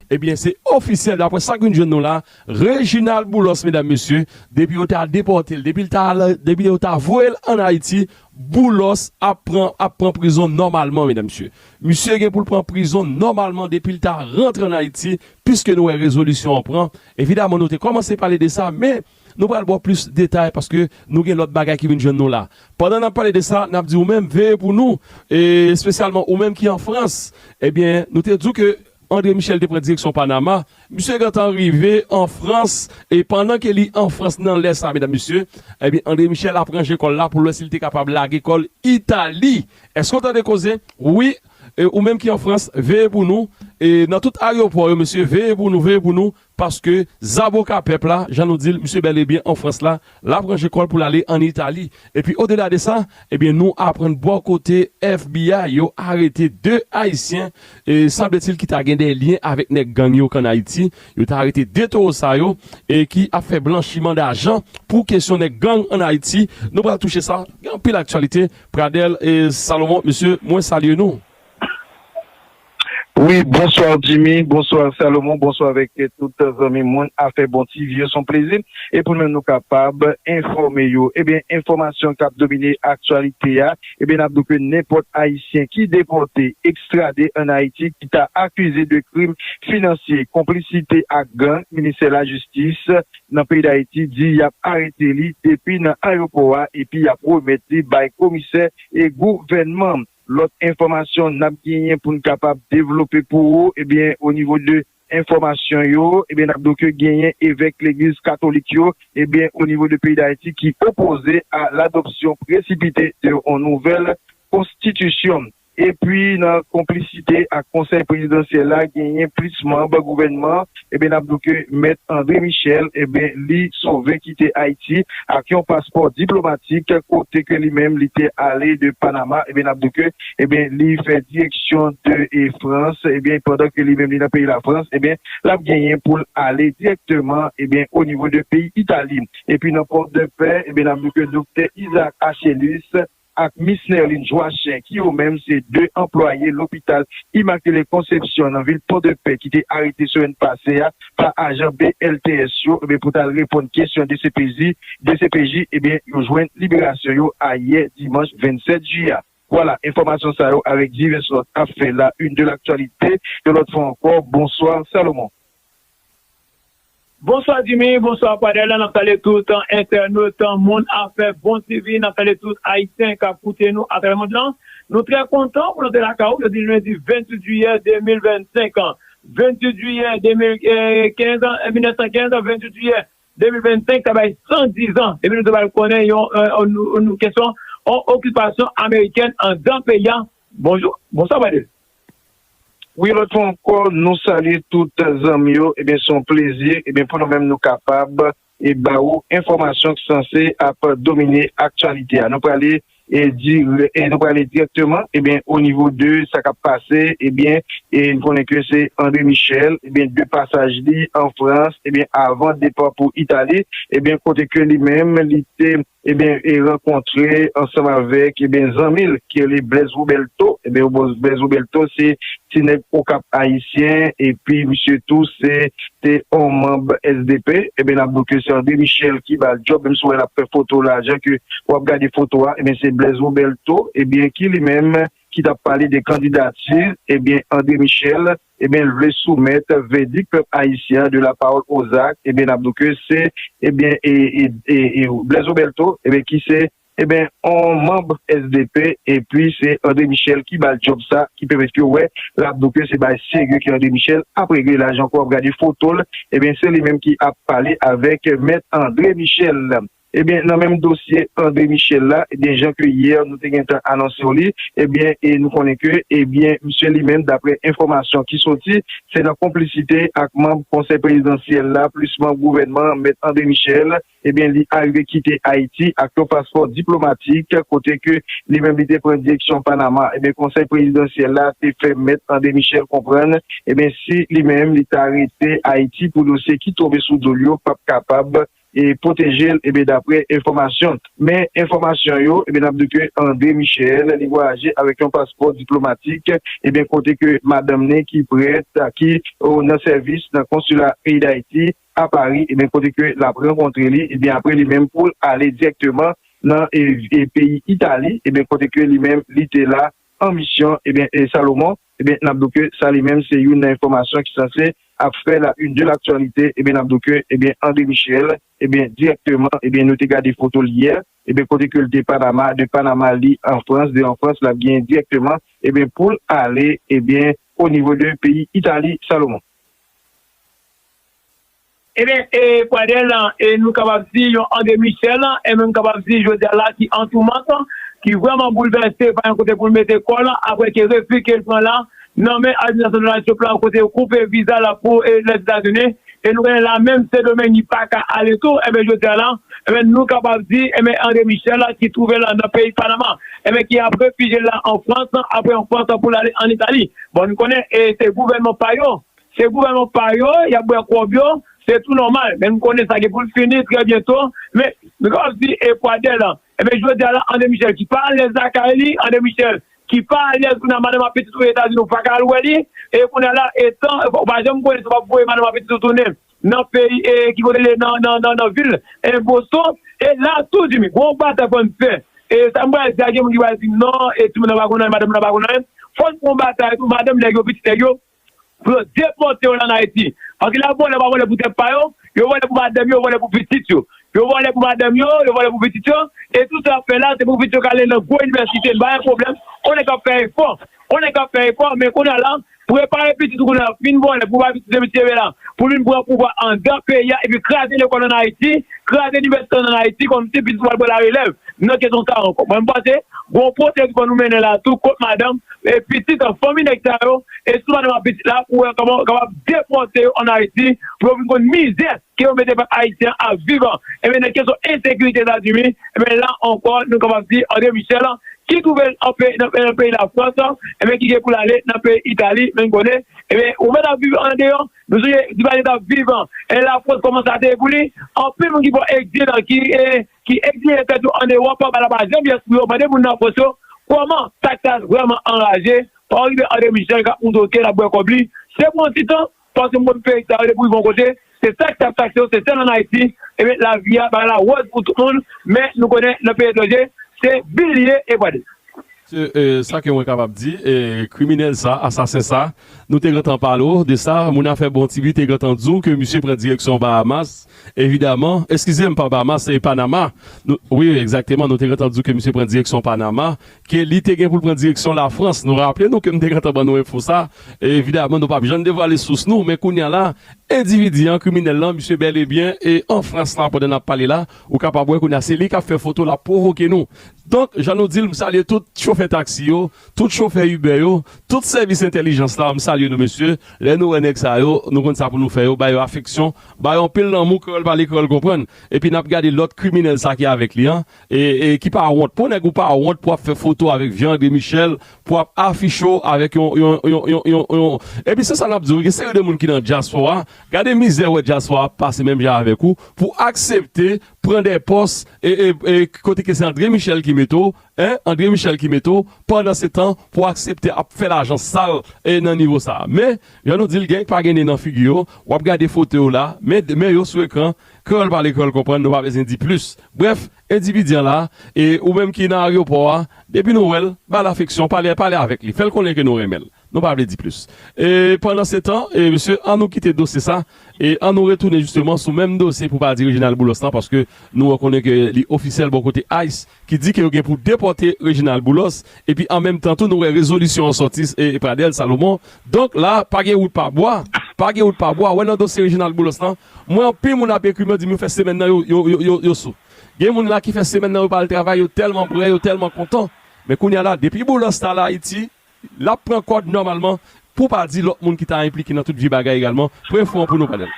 Ebyen se ofisyèl daprè sak vin jwenn nou la, Reginald Boulos medam mesye, depi yo ta depòtel, depil ta al, depi yo ta voyel an Ayiti, Boulos ap pran ap pran prizon nòmalman medam mesye. Misye gen poul pran prizon nòmalman depil ta rantre an Ayiti, piske nou wè rezolisyon an pran, evidaman nou te kòmanse pale de sa men nou pral baw plis detay paske nou gen lòt bagay ki vin jwenn nou la. Pandan nap pale de sa nap di ou menm veye pou nou espesyalman ou menm ki an Frans, ebyen nou te diw ke André Michel te pran direksyon Panama, misye gentan rive an Frans, e pandan ke li an Frans nan lè sa medam mesye, ebyen André Michel ap ranje kòl la poul wè sil te kapab lage kòl Itali, èske w tande koze? wi, e ou menm ki an Frans veye pou nou, e nan tout aryopò yo mesye veye pou nou, veye pou nou, Paske zaboka pèp la, jan nou di l, misye bèl e byen an Frans la, l ap ranje kò l pou l ale ann Itali. Epi odela de sa, ebyen nou aprann bò kote FBI yo arete 2 Ayisyen, e sanbletil ki ta gen de lyen avèk nèg gang yo k ann Ayiti. Yo ta arete 2 towo sa yo, e ki ap fè blanchiman dajan pou kesyon nèg gang ann Ayiti. Nou pral touche sa. Gen anpil aktyalite. Pradel Salomon, mesye, mwen salye nou. Wi bonsoir Jimmy bonsoir Salomon bonsoir avèk tout zanmi moun afè bon ti vye son plezi epoun menm nou kapab enfòme yo ebyen enfòmasyon kap domine aktyalite a ebyen nap di ke nenpòt ayisyen ki depòte ekstrade an Ayiti ki ta akize de krim finansye konplisite ak gang ministè lajistis nan peyi Dayiti di yap arete li depi nan ayopò a epi yap remèt li bay komisè e gouvènman. Lòt enfòmasyon nap genyen poun kapab devlope pou ou ebyen o nivo de enfòmasyon yo ebyen nap di w ke genyen evèk legliz katolik yo ebyen o nivo de peyi dayiti ki opoze a ladopsyon presipite de on nouvèl konstitisyon epi nan konplisite ak konsèy prezidansyèl la genyen plis manb gouvènman Ebyen nap di w ke Mèt André Michel ebyen li sove kite Ayiti ak yon paspò diplomatik kote ke li menm li te ale de Panama ebyen nap di w ke ebyen li fè direksyon de e Frans ebyen pandan ke li menm li nan peyi Lafrans ebyen lap genyen pou l ale dirèkteman ebyen o nivo de peyi Itali epi nan Pòdepè ebyen nap di w ke Doktè Isaac Achelus ak Mis Nerline Joachim ki yo menm se 2 anplwaye lopital Immaculée Conception nan vil Pòdepè ki te arete semèn pase a pa ajan BLTS yo ebyen pou tal reponn kesyon dcpj, dcpj ebyen yo jwenn liberasyon yo ayè dimanch 27 ju a. Vwala, enfòmasyon sa yo avèk divès lòt ap fè la une de l'actualité yon lòt fwa ankò, bonsoir Salomon. Bonswa Jimmy, bonswa Padel la nap salye tout entènot moun afè bon TV nap salye tout ayisyen kap koute nou atravè mond lan nou trè kontan pou nou te lakay ou jodi lendi 28 jiyè 2025 an 28 jiyè 2015 an 1915 an 28 jiyè 2025 sa bay 110 an depi nou te pral konnen yon kesyon yon okipasyon amerikèn andan peyi a Bonjou bonswa Bade wi lòt fwa ankò nou salye tout zanmi yo ebyen son plezi ebyen pou nou menm nou kapab e ba ou enfòmasyon ki sanse ap domine aktyalite a nou prale e di e nou prale direkteman ebyen o nivo de sa kap pase ebyen e nou konnen ke se Andre Michel ebyen de pasaj li an Frans ebyen avan depa pou Itali ebyen kote ke li menm li te. ebyen e rankontre ansanm avèk ebyen zanmi l ki rele Blèz Wobèlto ebyen Blèz Wobèlto se ti nèg Okap ayisyen epi misye tou se te on manb SDP ebyen nap di w ke se André Michel ki ba l djòb menm si w wè l ap fè foto la jan ke wap gade foto a ebyen se Blèz Wobèlto ebyen ki li menm ki tap pale de kandidati ebyen André Michel. ebyen l vle soumèt vèdik pèp ayisyen an de la pawòl o zak ebyen n ap di w ke se ebyen e Blèz Robèlto ebyen ki se ebyen on manb sdp epi se Andre Michèl ki ba l djòb sa ki pèmèt ke w wè l ap di w ke se bagay serye ke Andre Michèl ap regle la jan ke w ap gade foto l ebyen se li menm ki ap pale avèk mèt Andre Michèl. Ebyen nan menm dosye André Michel la ebyen jan ke yè nou te gentan anonsew li ebyen e nou konnen ke ebyen misye li menm daprè enfòmasyon ki soti se nan konplisite ak manb konsèy prezidansyèl la plis manb gouvènman an mèt André Michel ebyen li arive kite Ayiti ak yon paspò diplomatik kote ke li menm li te pran direksyon Panama ebyen konsèy prezidansyèl la te fè mèt André Michel konprann ebyen si li menm li ta rete Ayiti pou dosye ki tonbe sou dol yo pap kapab e pwoteje l e daprè enfòmasyon men enfòmasyon yo e n ap di ke André Michel li vwayaje avèk yon paspò diplomatik e kote ke madanm ni ki prèt ki nan sèvis nan konsila peyi Dayiti a Pari e kote ke l ap rankontre li e aprè li menm pou l ale dirèkteman nan peyi Itali e kote ke li menm li te la an misyon e Salomon. Ebyen nap do ke sa li menm se youn nan enfòmasyon ki sanse ap fè la une de l'actualité, ebyen nap do ke ebyen André Michel ebyen dirèkteman ebyen nou te gade fotol yè ebyen kote ke li te Panama, de Panama li an Frans, de an Frans lap genyen dirèkteman ebyen poul ale ebyen au niveau de peyi Italie Salomon. Ebyen, e Pradel, e nou kapab di yon André Michel, e menm kapab di jodi a la ki antoumant, ki vrèman boulvèse, pa gen kote pou l mete kò l, aprè ke refi ke l pran la nan men administrasyon Donald Trump la, kote yo koupe viza l pou Lèzetazini, e nou konnen la menm Sendomeng li pa ka ale tou, ebyen jodi a la, ebyen nou kapab di, ebyen André Michel ki twouve l nan peyi Panama, ebyen ki ap refijye l la an Frans, aprè an Frans pou l ale an Itali. Bon, nou konnen e se gouvènman pa yo. Se gouvènman pa yo, y ap bwè kòb yo, se tou nòmal. Men nou konnen sa gen pou l fini trè byento. Men, nou kapab di Ekwadè lan. Enben, jodi a la, André Michel ki pa alèz lakay li, André Michel ki pa alèz kounye a madanm ak pitit ou Etazini ou pa ka al wè li. E kounye a la, etan ou pa janm konnen si w ap voye madanm ak pitit ou tounen nan peyi e ki kote li nan vil Boston. E la tou, Jimmy, gon w batay fò n fè. E sa m pral di a gen moun ki pral di non, e timoun nan pa konn anyen, madanm nan pa konn anyen. Fò n fè yon batay tou, madanm nèg yo, pitit nèg yo. Pou yo depote yo lan Ayiti. Paske lè yo vole yo pa vole pou tèt pa yo, yo vole pou madanm yo, yo vole pou pitit yo. Yo vole pou madanm yo, yo vole pou pitit yo, e tout sa yap fè la se pou pitit yo ka ale lan gwo inivèsite, m pa wè pwoblèm, on nèg kap fè efò, on nèg kap fè efò, men kounye a la, prepare pitit ou kounye a, fin vole pou bay pitit de misye vè la, pou vin pran pouvwa andan peyi a epi kraze lekòl an Ayiti, kraze inivèsite an Ayiti kòmsi pitit ou pral pran la relèv nan kesyon sa ankò. Mwen m panse gon pwosedi fò nou mennen la tou kont madanm. e pitit an fanmi nèg sa yo e sou madanm ak pitit la pou wè kòman ou kapab depòte yo an Ayiti pou yo vin konn mizè ke yo mete pèp ayisyen an ap viv an ebyen nan kesyon ensekirite Etazini ebyen la ankò nou kapab di André Michel ki twouve l an peyi nan peyi Lafrans ebyen ki gen pou l ale nan peyi Itali men konnen ebyen ou mèt ap viv andeyò nou sonje Duvalier t ap viv e Lafrans kòman sa te ye pou li anpil moun ki pran egzil ki ki egzile tèt yo an Ewòp anba laba janvye espri yo mande moun nan fòs yo kòman sak ta vrèman anraje Henri de André Michel kap moute ok lap bwè kòb li se pou yon ti tan paske moun peyi sa yo depi rive yon kote se sak tap takse yo se sèl an Ayiti ebyen lavi a bagay la wòz pou tout moun men nou konnen nan peyi etranje se bil li ye e pwade. Se sa ke mwen kapab di e kriminèl sa asasen sa nou te gentan pale w de sa moun afè bon ti bi te gentan di w ke misye pran direksyon Bahamas Evidaman, eskize m, Pabama se Panama, nou, wi, egzakteman, nou te gentan di w ke misye pran direksyon Panama, ke li te gen pou l pran direksyon Lafrans. Nou raple nou ke m te gentan ban nou enfo sa. Evidaman, nou p ap jann devwale sous nou, men kounye a la, endividi an, kriminèl lan, misye bèl e byen e an Frans la pandan n ap pale la. Ou kapab wè kounye a se li k ap fè foto, l ap pwovoke nou. Donk, jan nou di l, m salye tout chofè taksi yo, tout chofè Uber yo, tout sèvis entèlijans la, m salye nou mesye. Lè nou wè nèg sa yo, nou konn sa pou nou fè yo, ba yo afeksyon, Bay anpil lanmou kreyòl pale kreyòl konprann epi nap gade lòt kriminèl sa ki avèk li an e ki pa wont pou nèg ou pa wont pou ap fè fotow avèk viande michel pou ap afichew avèk yon yon yon yon epi se sa nap diw gen seri de moun ki nan dyaspora gade mizè wè dyaspora ap pase menm jan avèk ou pou aksepte pran de pòs e e kote ke se andre michel ki mete w Hein André Michel ki mete w pandan se tan pou aksepte ap fè lajan sal e nan nivo sa men jan nou di l gen k pa gen ne nan figi yo w ap gade foto yo la men men yo sou ekran kreyòl pale kreyòl konprann nou pa bezyen di plis brèf endividi an la e ou menm ki nan aryopò a depi nou wè l ba l afeksyon pale pale avèk li fè l konnen ke nou renmen l nou pa vle di plis e pandan se tan e mesye an nou kite dosye sa E an nou retounen jisteman sou menm dosye pou pa di Reginald Boulos lan paske nou an konnen ke li ofisyèl bò kote ice ki di ke yo gen pou depòte Reginald Boulos epi an menm tan tou nou wè rezolisyon an sòti e Pradel Salomon donk la pa gen wout pa bwa pa gen wout pa bwa wè nan dosye Reginald Boulos lan mwen anpil moun ap ekri mwen di m yo fè semèn nan yo yo yo sou gen moun la ki fè semèn nan yo pa al travay yo tèlman prè yo tèlman kontan men kounya la depi Boulos t al Ayiti L ap pran kòd nòmalman, pou w pa di lòt moun ki ta enplike nan tout vye bagay egalman, pran enfo an pou nou pa nan.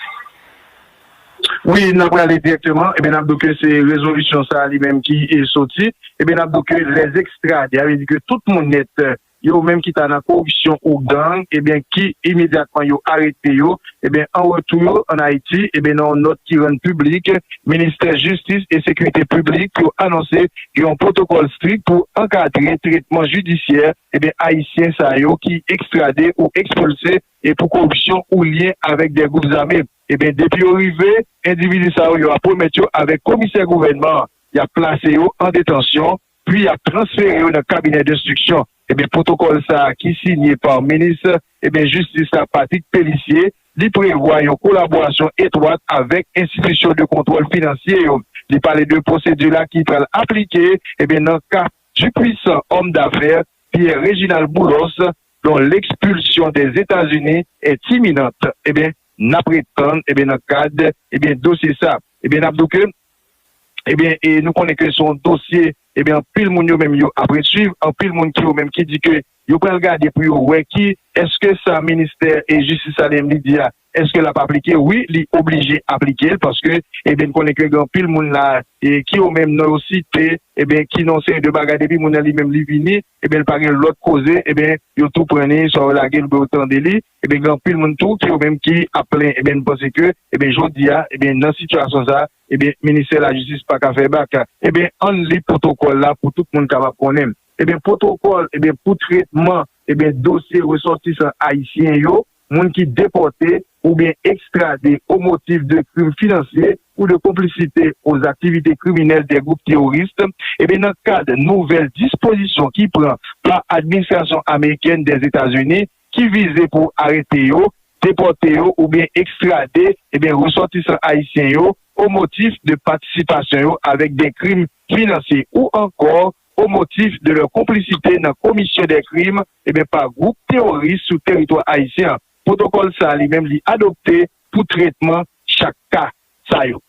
Wi, n a prale dirèkteman, ebyen n ap di w ke se rezolisyon sa a li menm ki soti, ebyen n ap di w ke les extrades, sa vle di ke tout moun nèt yo menm ki ta nan koripsyon ou gang, ebyen ki imedyatman yo arete yo, Ebyen an retou an Ayiti, ebyen nan yon nòt ki rann piblik, Ministè Jistis e Sekirite Piblik yo anonse gen yon pwotokòl strik pou ankadre tretman jidisyè ebyen ayisyen sa yo ki ekstrade ou ekspilse e pou koripsyon ou lyen avèk 2 gwoup zame. Ebyen depi yo rive, endividi sa yo yo ap remèt yo avèk komisè gouvènman an. Y ap plase yo an detansyon. Pwi yap transfere yo nan kabinè denstriksyon. Ebyen pwotokòl sa a ki sinye pa minis ebyen jistis la Patrick Pélissié, li prevwa yon kolaborasyon etwat avèk enstitisyon de kontwòl finansye yo. Li pale de pwosedi la ki pral aplike ebyen nan ka du puissant homme d'affaires Pierre Réginald Boulos dont l'expulsion des États-Unis est imminente. Ebyen nap ret tann ebyen nan kad ebyen dosye sa. Ebyen nap di w ke ebyen e nou konnen ke se yon dosye ebyen anpil moun yo menm yo apre swiv anpil moun ki yo menm ki di ke yo pral gade pou yo wè ki eske sa ministè e jistis sa li menm li di a eske lap aplike wi li oblije aplikel paske ebyen n konnen ke gen anpil moun la e ki yo menm non yo site ebyen ki non se de bagay depi moun nan li menm li vini ebyen l pa gen lòt koze ebyen yo tou pran ni sa yo lagel oubyen yo tande li Ebyen gen anpil moun tou ki yo menm ki ap plen ebyen nou panse ke ebyen jodia ebyen nan sitiyasyon sa ebyen ministè lajistis pa ka fè bak ebyen ann li pwotokòl la pou tout moun kapab konnen ebyen pwotokòl ebyen pou tretman ebyen dosye resòtisan ayisyen yo moun ki depòte oubyen ekstrade o motif de krim finansye ou de konplisite o zaktivite kriminèl dè gwoup teworis ebyen nan kad nouvèl dispozisyon ki pran pa administrasyon amerikèn dèzetazini ki vize pou arete yo, depòte yo oubyen ekstrade ebyen resòtisan ayisyen yo o motif de patisipasyon yo avèk de krim finansye ou ankò o motif de lè konplisite nan komisyon de krim ebyen pa gwoup teworis sou teritwa ayisyen an. Pwotokòl sa li menm li adopte pou tretman chak ka sa yo.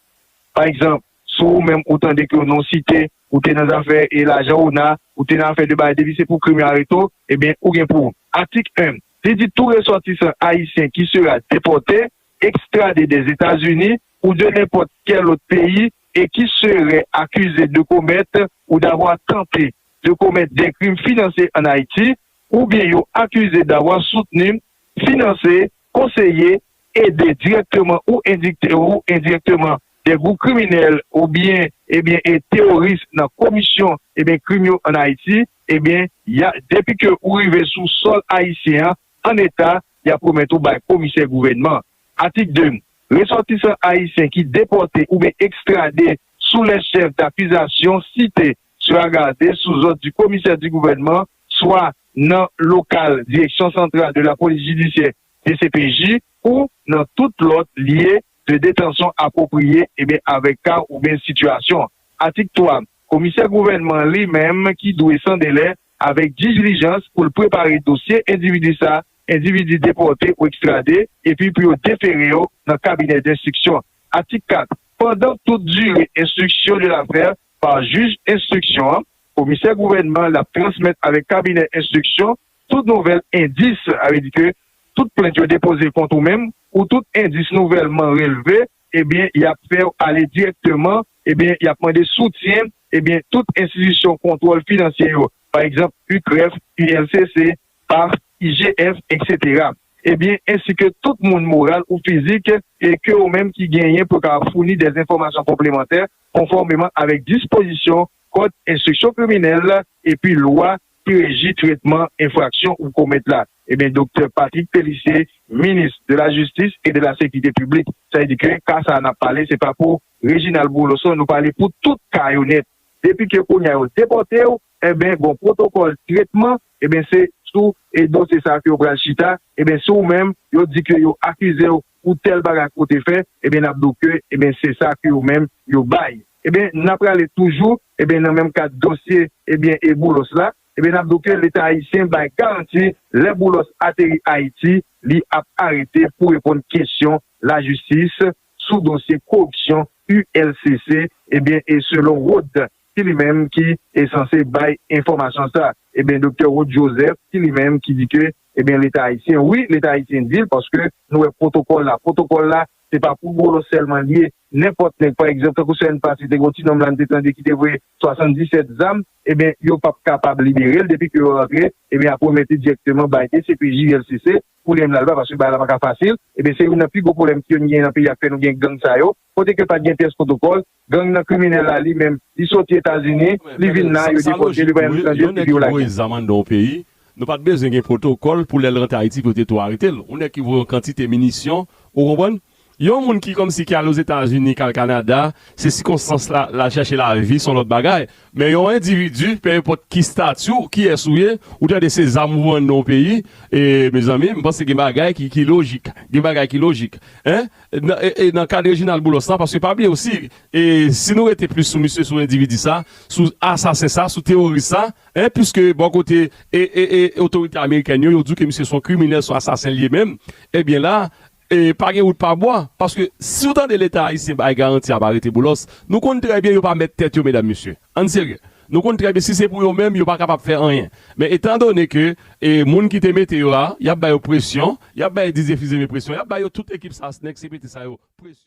Pa egzanp. Si ou menm ou tande ke non w site, ou te nan zafè e lajan ona, ou te nan afè de bagay depi se pou krim yo arete w, ebyen ou gen pou. Atik 1. Li di tou resòtisan ayisyen ki sera depòte, ekstrade dè Etazini ou de nenpòt kè lòt peyi e ki serè akize de komèt ou davwa tante de komèt dè krim finansye ann Ayiti oubyen yo akize davwa soutni, finanse, konseye, ede dirèkteman ou endikte ou endirèkteman de gwoup kriminèl ou byen e byen e teworis nan komisyon e byen krim yo an Ayiti e byen ya depi ke ou rive sou sòl ayisyen an an eta ya pwomèt ou bay komisè gouvènman Atik 2. Resòtisan ayisyen ki depòte ou byen ekstrade sou lè chèf dakizasyon site sera garde sou zòd di komisè di gouvènman swa nan lokal direksyon santral de lapolis jidisyè dcpj ou nan tout lòt lye de detansyon apwopriye ebyen avèk ka oubyen sitiyasyon. Atik 3, Komisè gouvènman li menm ki dwe san delè avèk dijlijans pou l prepare dosye endividi sa endividi depòte ou ekstrade epi pou yo defere yo nan kabinè denstriksyon. Atik 4, Pandan tout dire enstriksyon de lafè pa jij enstriksyon an, komisè gouvènman l ap transmèt avèk kabinè enstriksyon, Tout nouvèl endis, sa vle di ke tout plent yo depoze kont ou menm, ou tout endis nouvèlman relve, ebyen y ap fè w ale dirèkteman, ebyen y ap mande soutyen, ebyen tout enstitisyon kontwòl finansye yo, pa egzanp, UCREF, ULCC, paf, IGF, eksetera, ebyen ensi ke tout moun moral ou fizik e ke ou menm ki genyen pou ka founi dè enfòmasyon konplemantè konfòmeman avèk dispozisyon Kòd Enstriksyon Kriminèl epi Lwa ki reji tretman enfraksyon ou komèt la, ebyen Doktè Patrick Pélissier, Minis de la Jistis e de la Sekirite Piblik. Sa vle di ke ka sa a nap pale se pa pou Reginald Bouloson, nou pale pou tout ka yo nèt. Depi ke kounye a yo depòte w, enben gon pwotokòl tretman, enben se sou dosye sa a ke yo pral chita, enben si ou menm yo di ke yo akize w pou tèl bagay ke w te fè, ebyen n ap di w ke ebyen se sa ke yo menm yo bay. Ebyen n ap prale toujou ebyen nan menm kad dosye ebyen e Boulos la, ebyen n ap di w ke Leta ayisyen bay garanti lè Boulos ateri Ayiti li ap arete pou reponn kesyon lajistis sou dosye koripsyon ULCC ebyen e selon Rod ki li menm ki e sanse bay enfòmasyon sa ebyen Doktè Rod Joseph ki li menm ki di ke Ebyen leta ayisyen wi leta ayisyen dil paske nou wè pwotokòl la pwotokòl la se pa pou bolo sèlman liye nenpòt nèg pa egzanp tankou semèn pase te gon ti nonm la nou te tande kite voye 77 zam ebyen yo pap kapab liberel depi ke yo rantre ebyen yap remèt li dirèkteman bay dcpj ulcc pou li menm lal ba paske bagay la paka fasil ebyen se youn nan pi gwo pwoblèm ke nou gen nan peyi a ki fè nou gen gang sa yo kote ke pat gen pyès pwotokòl Gang nan kriminel la li menm li soti etazini li vin la yo depotel li pa janm tande depi yo lagel. Nou pat bezwen gen protokòl pou lèl rantre ayiti pou yo te tou aretel yon nèg ki voye yon kantite minisyon ou konprann yon moun ki kòmsi ki al ozetazini kal kanada se sikonstans la lal chèche lavi son lòt bagay Men yon individu, pe enpòt ki stati w, kiyès ou ye, ou tande se zam ou vann yon peyi, e mezanmi, m panse gen bagay ki ki lojik. Gen bagay ki lojik. Hein? E nan ka de Reginald Boulos la, paske pa bliye osi, e si nou rete plis sou misye, sou endividi sa, sou asasen sa, sou teworis sa, hein, puiske bò kote e e e otorite amerikèn yo, yo di w ke misye son kriminèl, son asasen l ye menm, ebyen la, E pa gen wout pa bwa, paske si w tande leta ayisyen bay garanti ap arete Boulos, nou konn trè byen yo pa mèt tèt yo medam mesye. Ann serye. Nou konn trè byen si se pou yo menm yo pa kapab fè anyen. Men etan done ke e moun ki te mete yo a, y ap ba yo presyon, y ap bay dizefizeme presyon, y ap ba yo tout ekip sa snèk CPT sa yo presyon.